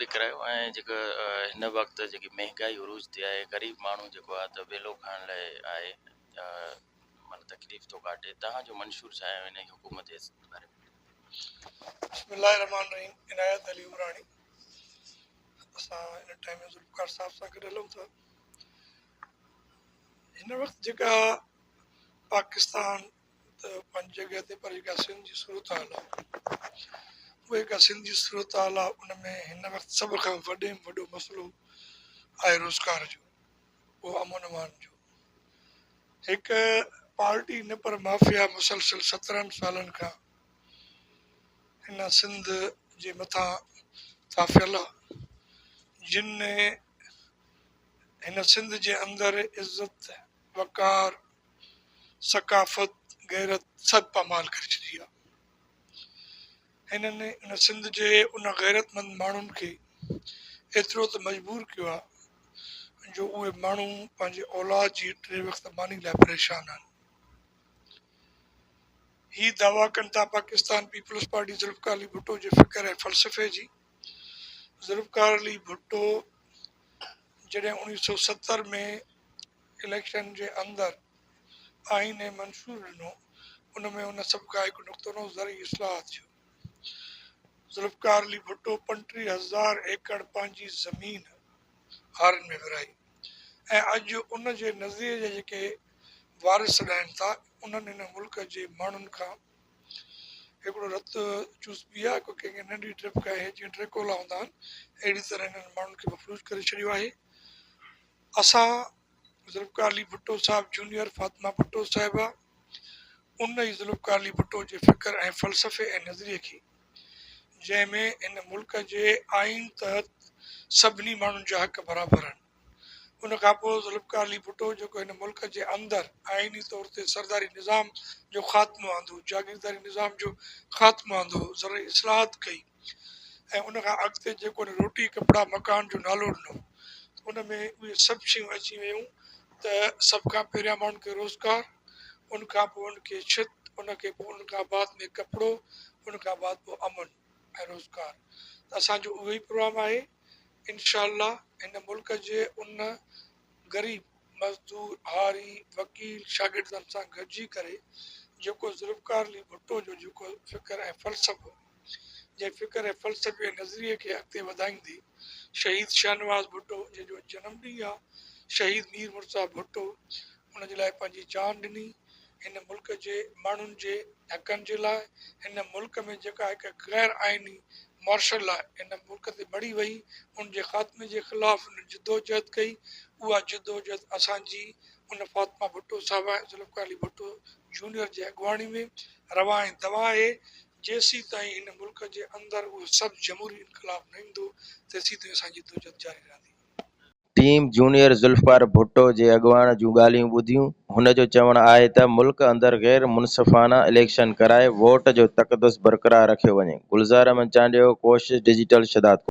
به ڪرايو ۽ جيڪا هن وقت جيڪي مهنگائي عروج تي آهي غريب ماڻهو جيڪو آهي ته ويلو کائڻ لاء آهي معنيٰ تڪليف ٿو ڪاٽي تهان جو منشور ڇا آهي هن حڪومت جي باري ۾ بسم الله الرحمٰن الرحيم عنايت علي عمراڻي اسان هن ٽائيم ۾ ذوالفقار صاحب سان گڏ هلون ٿا هن وقت جيڪا پاڪستان ته پنهنجي جڳهه تي پر جيڪا سنڌ جي صورتحال آهي اها جيڪا سنڌ جي صورتحال آهي ان ۾ هن وقت سڀ کان وڏي ۾ وڏو مسئلو آهي روزگار جو ٻيو امن امان جو هڪ پارٽي نه پر مافيا مسلسل سترهن سالن کان هن سنڌ جي مٿان ٿاڦيل آهي جن هن سنڌ جي اندر عزت وقار ثقافت، غيرت سڀ پامال ڪري ڇڏي آ. هنن ان سنڌ جي ان غيرتمند ماڻهن کي ايترو ته مجبور ڪيو آ جو اهي ماڻهو پنهنجي اولاد جي ٽي وقت ماني لاء پريشان آهن. هي دعويٰ ڪن ٿا پاڪستان پيپلز پارٽي ذوالفقار علي ڀٽو جي فڪر ۽ فلسفي جي. ذوالفقار علي ڀٽو جڏهن اوڻيهه سؤ ستر ۾ اليڪشن جي اندر آئين ۽ منشور ڏنو ان ۾ ان سڀ کان هڪ نقطو نو زرعي اصلاحات جو ذوالفقار علي ڀٽو پنٽيهه هزار ايڪڙ پنهنجي زمين هارين ۾ ورهائي ۽ اڄ ان جي نظريي جا جيڪي وارث سڏائن ٿا انهن هن ملڪ جي ماڻهن کان هڪڙو رت چوس پي آهي ڪو ڪنهن ننڍي ڊرپ کان هي جيئن ڊريڪولا هوندا آهن اهڙي طرح هنن ماڻهن کي مفلوج ڪري ڇڏيو آهي اسان ذوالفقار علي ڀٽو صاحب جونيئر فاطمه ڀٽو صاحبه ان ئي ذوالفقار علي ڀٽو جي فڪر ۽ فلسفي ۽ نظريي کي جنهن ۾ هن ملڪ جي آئين تحت سڀني ماڻهن جا حق برابر آهن ان کان پوء ذوالفقار علي ڀٽو جيڪو هن ملڪ جي اندر آئيني طور تي سرداري نظام جو خاتمو آندو جاگيرداري نظام جو خاتمو آندو زرعي اصلاحات ڪئي ۽ ان کان اڳتي جيڪو هن روٽي، ڪپڙا، مڪان جو نالو ڏنو ته ان ۾ اهي سڀ شيون اچي ويون ته سڀ کان پهريان ماڻهن کي روزگار، ان کان پوء ان کي ڇت، ان کي پوء ان کان بعد ۾ ڪپڙو، ان کان بعد پوء امن ۽ روزگار ته اسان جو اهو ئي پروگرام آهي. انشاء الله هن ملڪ جي ان غريب، مزدور، هاري، وڪيل، شاگردن سان گڏجي ڪري جيڪو ذوالفقار علي ڀٽو جو جيڪو فڪر ۽ فلسفو جنهن فڪر ۽ فلسفي ۽ نظريي کي اڳتي وڌائيندي شهيد شاهنواز ڀٽو جنهن جو اڄ جنم ڏينهن آهي شهيد مير مرتضيٰ ڀٽو ان جي لاء پنهنجي جان ڏني هن ملڪ جي ماڻهن جي حقن جي لاء هن ملڪ ۾ جيڪا هڪ غير آئيني مارشل لا هن ملڪ تي مڙهي وئي ان جي خاتمي جي خلاف هن جدوجهد ڪئي اها جدوجهد اسان جي ان فاطمه ڀٽو صاحبه ۽ ذوالفقار علي ڀٽو جونيئر جي اڳواڻي ۾ روا ۽ دوا آهي جيسيتائين هن ملڪ جي اندر اهو سڀ جمهوري انقلاب نه ايندو، تيسيتائين اسان جي جدوجهد جاري رهندي. ٽيم جونيئر ذوالفقار ڀٽو جي اڳواڻ جون ڳالهيون ٻڌيون، هن جو چوڻ آهي ته ملڪ اندر غير منصفانه اليڪشن ڪرائي ووٽ جو تقدس برقرار رکيو وڃي، گلزار احمد چانڊيو، ڪوشش ڊجيٽل، شھدادڪوٽ.